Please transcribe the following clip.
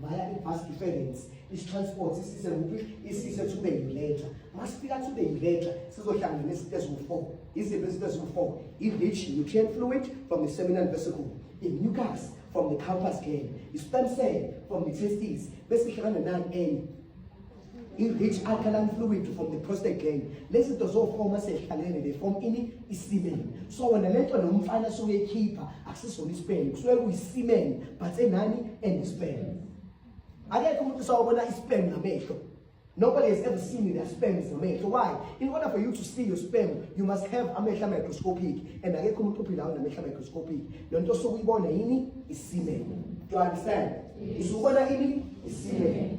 via i-bus difference isitransport isise kuphi isise thube yiletha masifika thube yiletha sizohlangana nezinto eziwu-four iziphi izinto eziwu-four i-rich nutrient fluid from the seminal vesicle i-mucus from the campus gale i-stem cell from the testes besihlangana nani enye i-rich alkaline fluid from the prostate gland lezi zinto zofoma sehlalene they form ini isimen so wena le nto nomfana suke ekhipha akusisona isimen kusuke kuyisimen but enani and isimen akekho umuntu usawubona isimen ngamehlo Nobody has ever seen their sperm is amehlo. Why? In order for you to see your sperm, you must have amehla microscopic. And akekho umuntu ophila unamehla microscopic. Le nto osuke uyibona yini? Isimen. Do you understand? Yes. Usubona ini? Isimen.